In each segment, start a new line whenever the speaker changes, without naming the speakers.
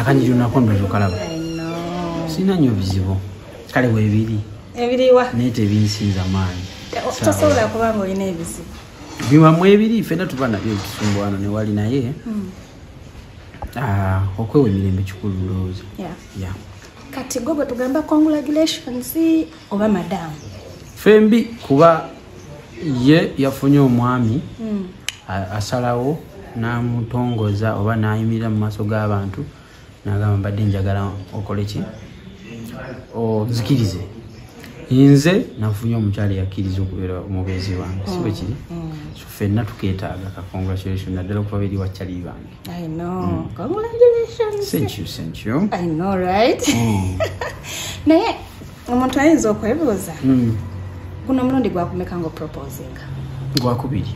akanyiriro nako ndozo kalaba sirina nnyo bizibu kale webiri ebiriwa naye
tebinsinza
maanyi tosobola kuba
nga olina ebizibu biwamu ebiri
fena tuba nabyo ebitusumbwana newali naye hmm. ah, okwewa emirembe kikulu ndowooza
kati gwe bwe tugamba congratulations oba madamu fembi
kuba ye yafunye omwami hmm. asalawo namutongoza oba nayimirira mu maaso g'abantu nagamba mbadde njagala okole ki ozikirize nze nafunye omukyala yakkiriza okubeera omubeezi wange si bwekiri hmm. hmm. fenna tuketaaga ka congratulation naddala okuba beri wakyali bange I know. Mm. Congratulations. Thank you, thank you. I know, right? Mm.
Naye omuntu ayinza okwebuuza mm. guno omulundi gwakumeka nga oposinga gwakubiri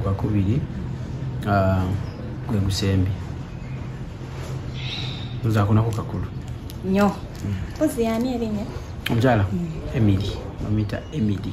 gwakubiri ah, gwe gusembi nzakunako kakulu nyo
mm. ozi yani erinya omukyala mm.
emiri bamuyita emiri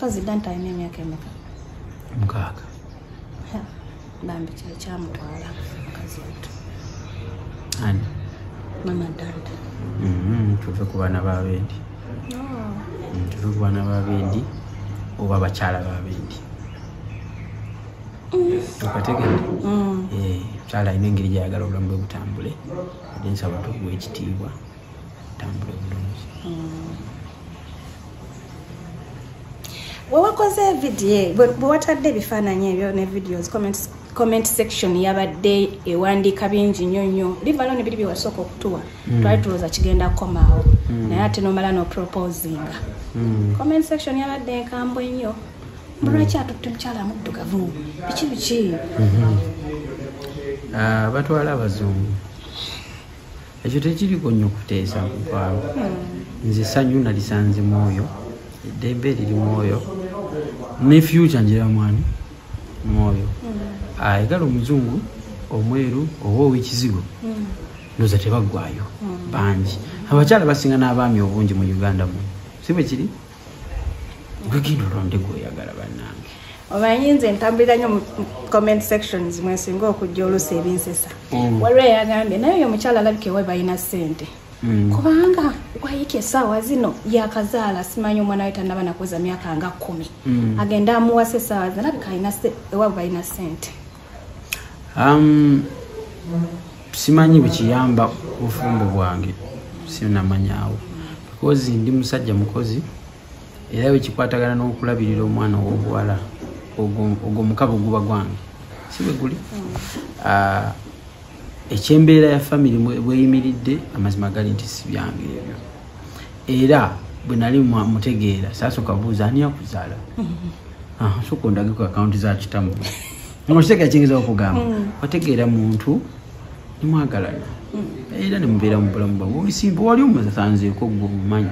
pazidanta alina emyaka emeka mukaaga
bambi kye
kyamutwala mukazi wattu
ani
mama danta mm-hmm. tuve
ku baana babendi oh. mm, tuve ku baana babendi oba abakyala babendi okategede mm. eh, omukyala alina engeri gyayagala obulamu bwe butambule ate nsaba tukuwa ekitiibwa
wewakoze vidiyo bwewatadde ebifaananyi ebyo ne videos comments comment section yabadde ewandiika bingi nnyo nnyo livalo ne biri byewasooka okutuwa hmm. twali tulowooza kigenda kukomaawo hmm. naye ate nomala noproposinga hmm. comment section yabadde enkambwe nnyo mulwaki atutte mukyala muddugavu biki biki mhm.
ah, batwala abazungu ekyo tekiriko nnyo kuteesa mukwalo hmm. nze sanyu nalisanze mwoyo eddembe eriri mwoyo ne fyuca njera mwani mwoyo hmm. ayagala ah, omuzungu omweru oba owekizigo hmm. noza tebaggwayo bangi abakyala basinga n'abaami obungi mu uganda mu si bwe kiri gwegenda olonde gwoyagala banange omanyi nze
ntambulira nyo mu comment sections mwesinga okujja oluusi ebinsesa mm. waliwo eyagambye naye oyo omukyala alabika ewe balina sente mm. kubanga wayika esaawa zino yakazaala simanyi omwana we tanaba nakuweza myaka nga kumi mm. agenda amuwasa esaawa zino alabika alina ewabu balina sente um,
simanyi bwekiyamba obufumbo bwange sinamanyaawo because ndi musajja mukozi era bwekikwatagana n'okulabirira omwana ow'obuwala ogwo mukabo guba gwange si bwe guli mm. ah, ekyembeera ya famire bweyimiridde amazima gali nti si byange ebyo era bwe nali mutegeera sasooka buuza ani akuzaala ah, soka ondageko akawunti za kitamu okitegera kiyingiza okugamba mm. wategeera muntu nemwagalana mm. era nemubeera mu bulamu bwamu obisimba wali omusanzeeko gwe omumanyi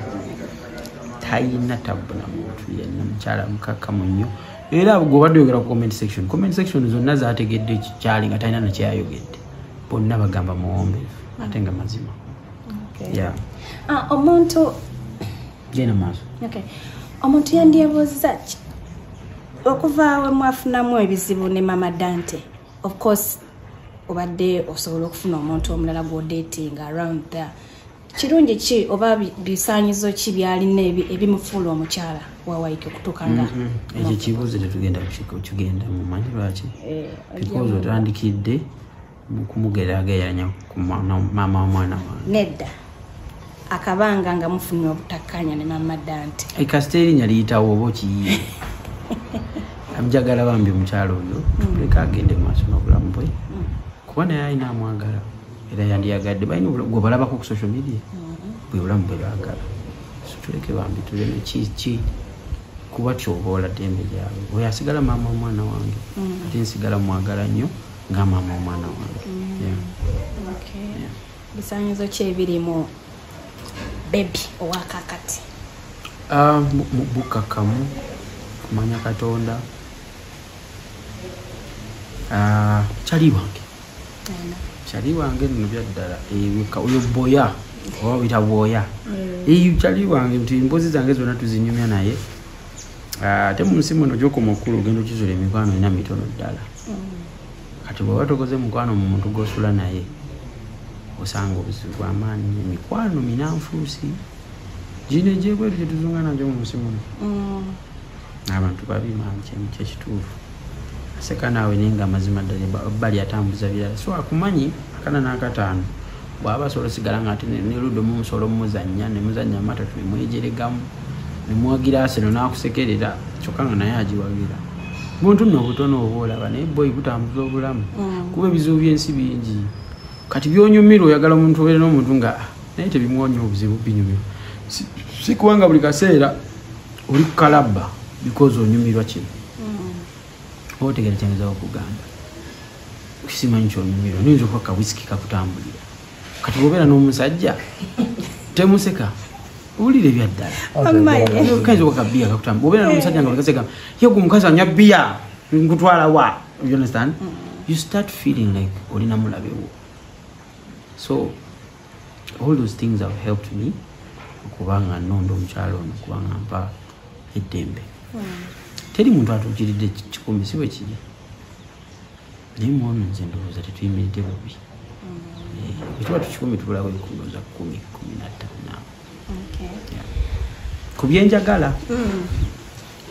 tayina tabbu na muntu yenna mukyala mukakkamu nnyo era gwobadde oyogera ku comment section comment section zonna zategedde kikyali nga talina nakyeyayogedde bonna bagamba muwombe ate nga mazima ah,
omuntu genda
maaso omuntu
yandyebuuziza ki okuva we mwafunamu ebizibu ne mama dante of course obadde osobola okufuna omuntu omulala gwodetinga around there kirungi ki oba bisaanyizo ki byalina ebimufuula omukyala wawaika okutuuka nga mm-hmm. ekyo kibuuzo
tetugenda kukigenda mumanyi lwaki eh, bikozi otandikidde kumugeraageranya ku maama womwana wange nedda
akabanga nga mufunye obutakkanya ne
mama
dante
eh, kasita
erinya
liyitawo oba
okiyiye
amjagala bambi omukyalo oyo mm. leka agende maaso nobulamu bwe mm. kuba naye alina amwagala era yandiyagadde balina gwe balabako ku social media mm-hmm. bwe bulamu bwe baagala situleke bambi tuleme kiki kuba kyoboola ddembe lyabwe oyo asigala maama omwana wange mm-hmm. ate nsigala mwagala nnyo nga maama omwana wange mm-hmm.
bisanyizo ki ebirimu bebi owakakati ah,
bukakamu kumanya katonda ah, kyali wange kyali wange nno byaddala ebika oyo boya oba wita bwoya eyo kyali wange nti emboozi zange zonna tuzinyumya naye ah, ate mu nsi muno gyokoma okukulu ogenda okizula emikwano ena mitono ddala kati bweba tokoze mukwano mu muntu gwosula naye osanga obuzibu bwamaanyi emikwano minanfuusi gino egyebweru gyetuzunga nagyo mu nsi muno mm. abantu babi mangi kyekituufu aseka naawe naye nga amazima ddala bali atambuza birala so akumanyi akana n'akataano bwaba asobola osigala nga ate neludo mumusolo mumuzanya nemuzanya amatatu nemwejeregamu nemwagira aseno nakusekerera kyokka nga naye agiwagira buntu nno obutono oba olaba naye boyi butambuza obulamu mm. kuba ebizibu byensi bingi kati byonyumira oyagala omuntu obeere n'omuntu nga naye tebimwonya obuzibu binyumira si kubanga buli kaseera oli kalaba because onyumirwa kino mm. otegera kyanyinza okugamba simanyi kyonyumirwa noyinza okuba kawisiki kakutambulira kati obeera n'omusajja temuseka owulira ebyaddala kayinza okuba kabiya kakutambula obeera n'omusajja nga olikaseka yegu omukazi anywa biya nkutwala wa you understand mm. you start feeling like olinamulabewo so all those things have helped me okuba nga nonda omukyalo ono okuba nga mpa eddembe teri muntu atuukiridde kikumi si bwe kiri naye mwana nze ndowooza tetuyimiridde bubi ekiba mm. tukikumi tubulawo ebikundoza kumi kumi nattaano ku byenjagala mm.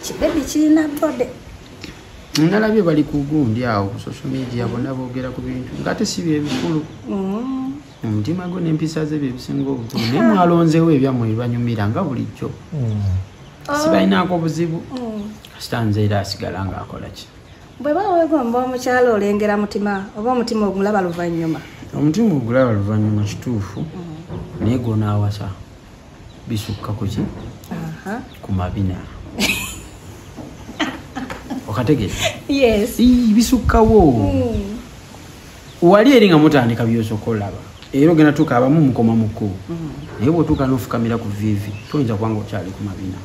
kibebi kirina bode
nalabye bali kugundi awo ku social media bona boogera ku bintu ngaate si byebikulu mm. omutima gwe n'empisa ze byebisinga obukulu naye mwalonzeewo ebyammwe bibanyumira nga bulijjo mm. sibalinaako obuzibu mm. kasita nze era asigala ng'akola ki bwe bawegomba
omukyalo olengera mutima oba omutima ogulaba luvannyuma omutima ogulaba
luvannyuma kituufu naye gwonaawasa bisukka kuki ku mabina okategere bisukkawo hmm. wali eri nga mutandika byosooka olaba era ogenda tuuka abamu mukoma muku hmm. naye bwotuuka nofukamira ku vivi toyinza kubanga okyali ku mabina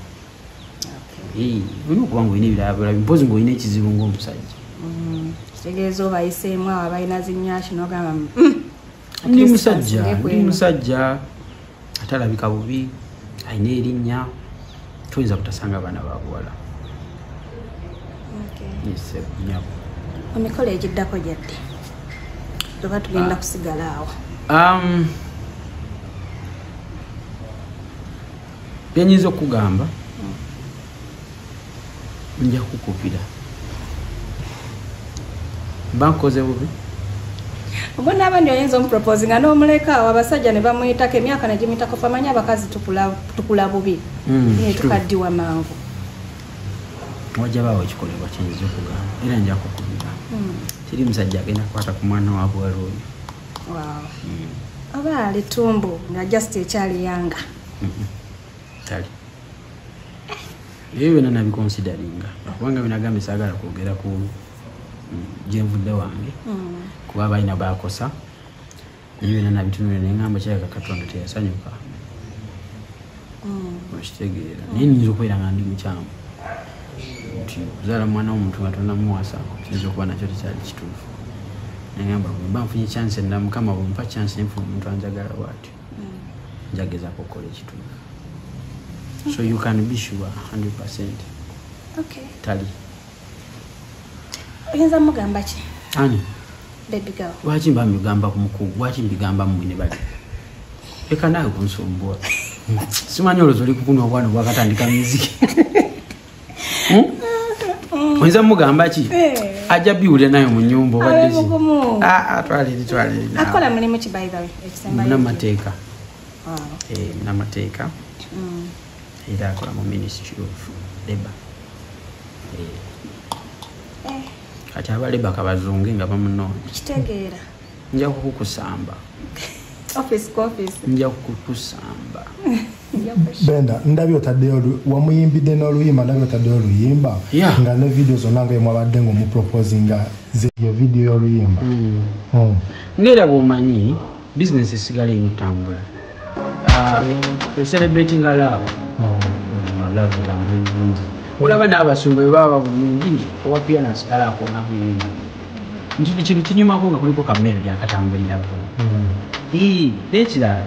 olina okubanga olina ebirabirabi mpozi ngaolina ekizibu ngaomusajja hmm. kitegeeza
obayiseemu abalina zinyaki nogamba ndi
musajja ndi musajja atalabika bubi alina erinnya toyinza kutasanga abaana babuwala
nyabo emikolo egiddako gyadde oba tugenda ah. kusigala awo um, byenyinza okugamba nja kukupira mba nkoze bubi oba naaba ndi oyinza omupropose nga n'omuleka awo abasajja ne bamuyitako emyaka negimuyitako famanya abakazi tukula bubi hmm, naye tukaddiwa mangu wajja baawo ekikolebwa kyenyiza okugamba era nja kukubira hmm. teri musajja agenda kukwata ku mwana wabwala oyo hmm. oba alitumbu nga just ekyali yanga
tali ebyo byona nabikonsidaringa kubanga binagambe sagala kwogera ku mm, gyenvudde wange mm. kuba balina bakosa ebyo byona nabitunule nengamba kiraka katonda teyasanyuka mm. okitegeera naye nyinza okubeera nga ndi mukyamu nti kuzaala mwana womuntu nga tonamuwasa kiyinza okuba nakyo tekyali kituufu nengamba bwemba nfunye chanse nda mukama bwempa chanse nenfuna omuntu anjagala bwatyo njagezako okukola ekituufu so you can be sure 100 percent okay. tali
oyinza mugamba ki ani lwaki mba mbigamba ku
mukugu lwaki mbigamba mmwe ne bali leka naawe kunsumbuwa simanyi olwozi oli kukunwa obwana obwakatandika miziki hmm? oyinza mugamba ki eh. ajja biwulira nayo mu nyumba obaddekitwalirimunamateeka munamateeka era akola mu ministry of labor eh. Eh. kati aba labor kabazunge nga bamunoonya kitegeera
nja
kukukusamba
office ku office nja
kukukusamba
benda ndabye otaddeyo wamuyimbidde n'oluyimba ndabye otaddeyo oluyimba nga ne vidiyo zonna nga emwabadde ngaomuproposinga zeyo vidiyo y'oluyimba hmm. hmm.
ngaera bwomanyi bisinesi esigala eno tambula eselebratinga ah, laabu hmm. olaba n'abasumba bwe baba bulungi owa pianas kala akona bulungi nti kintu kinyumako nga kuliko kamere lyakatambulirako nekirala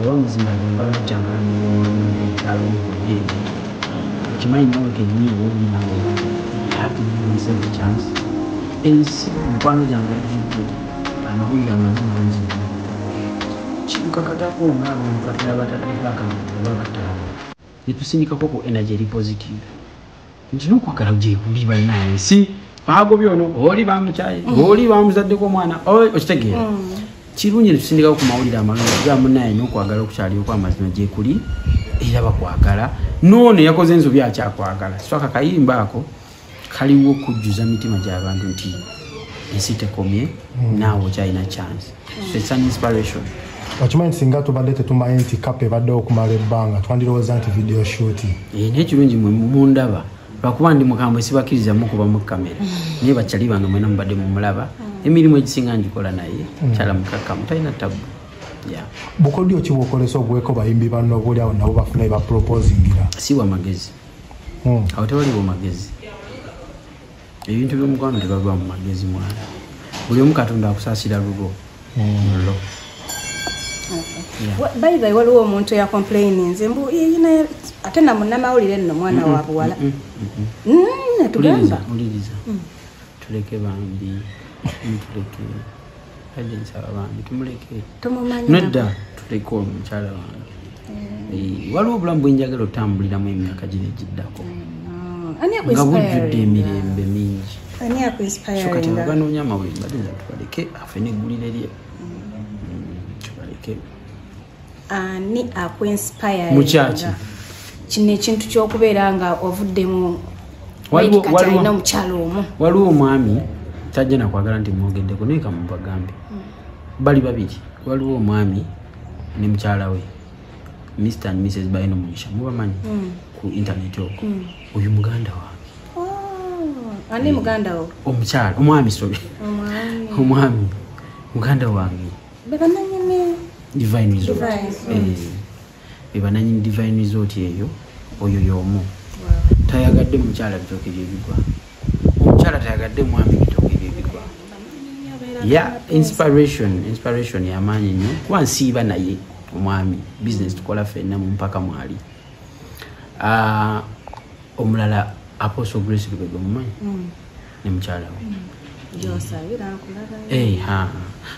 Oba muzima nze mba lujja nga ndi muwummula ekyalo mu Buyindi okimanyi nawe kenyini oba oli nawe you have to give yourself a chance ensi mikwano gyange gijudde amawulire amabi mangi nnyo kitukakatako ng'abantu kati abatadde baka oba bataano Ne tusindikako ku energy eri positive. Nti n'okwagala gyekuli bannange si baagobye ono oli bamukyaye mm. oli bamuzaddeko omwana okitegeera mm. kirungi ne tusindikako ku mawulire amalungi ga munnaye n'okwagala okukyalioko amazima gyekuli era bakwagala noono eyakoze enzobi akyakwagala sitwaka kayimba ako kaliwo okujjuza mitima gy'abantu nti ensi tekomye hmm. naawe okyalina chance so it's an inspiration okimanyi singa
tubadde tetumanyi nti kapa ebadde okumala ebbanga twandirowooza nti video shuti eh, naye kirungi mwe
mundaba lwakuba ndi mukambwe sibakiriza mukuba mu kamera naye bakyali bano mwena mubadde mumulaba hmm. emirimu egisinga ngikola naye hmm. kyala mukakkamu talina tabu
bukodyo ki bwokolesa ogweko bayimbi banno obuli awo nabo bafuna ebaproposingira si bwamagezi
hmm. awo tewaliwo magezi ebintu byomukwano tebava mu magezi mwana buli omu katonda akusasira lubo mulo hmm.
bayibayi waliwo omuntu yakomplaininze mbu ate namunamawulire nno mwana wabuwala natugamba
tuleke bambi mutuleke ade nsaba bambi tumuleke nedda tuleke omukyala wange eh. waliwo obulamu bwenjagala otambuliramu emyaka gino egiddako nga bujjudde emirembe mingi so kati ababanoonya amawembe ade tubaleke afe neggulire lye mm. Mm, tubaleke ani
akuinspire mukyaki
kino
ekintu kyokubeera nga ovuddemu alina omukyalo omu waliwo omwami
tajja nakwagala nti mwogeddeko naye kamubagambe hmm. bali babiri waliwo omwami ne mukyala we mr and mrs baino mugisha mubamanyi hmm. ku intaneti okwo hmm. oyo muganda wange ani
muganda wo omukyala omwami
sobi omwami muganda wange bebananyini divine resort eyo oyo yomu tayagadde mukyala bitoke byebigwa omukyala tayagadde mwami bitoke byebigwa ya inspiration inspiration yamaanyi nyo kuba nsiiba naye omwami business tukola fenna mumpaka mwali ah, omulala apostle grace lubega mumanyi mm. ne mukyala we eh,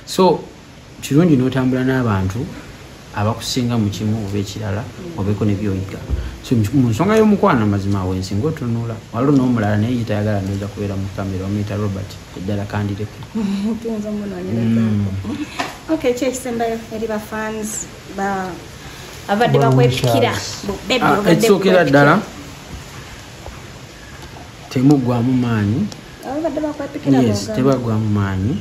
so kirungi n'otambula n'abantu abakusinga mu kimu oba ekirala obeeko nebyoyiga so mu nsonga y'omukwano amazima awo ensinga otunula waliwo n'omulala naye yitayagala ndoza kubeera mu kamera omuyita robert eddala kandireke mm.
okay ki ekisembayo eri bafans ba abadde bakwepikira ah,
ekisookera ddala temugwamu maanyi yes tebagwamu maanyi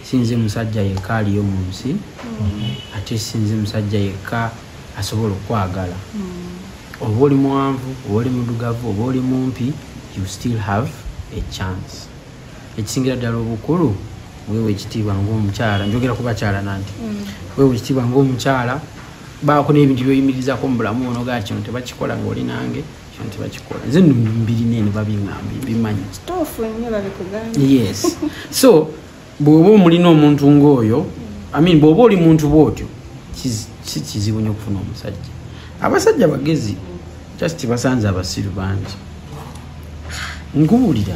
sinze musajja yekka aliyo mu nsi mm. ate sinze musajja yekka asobola okwagala mm. oba oli muwanvu oba oli mudugavu oba oli mumpi you still have a chance ekisingira ddala obukulu wewe ekitiibwa ngaomukyala njogera kubakyala nanti mm. wewe ekitiibwa ngaomukyala baako n'ebintu byoyimirizako mu bulamu ono ga kino tebakikola ngaoli nange nti bakikola nze no mbirina eno babiŋamba mbimanyi yes so bw'oba omulina omuntu ng'oyo amin bw'oba oli muntu bw'otyo si kizibu nyo okufuna omusajja abasajja bagezi just basanze abasiru bangi nkubuulira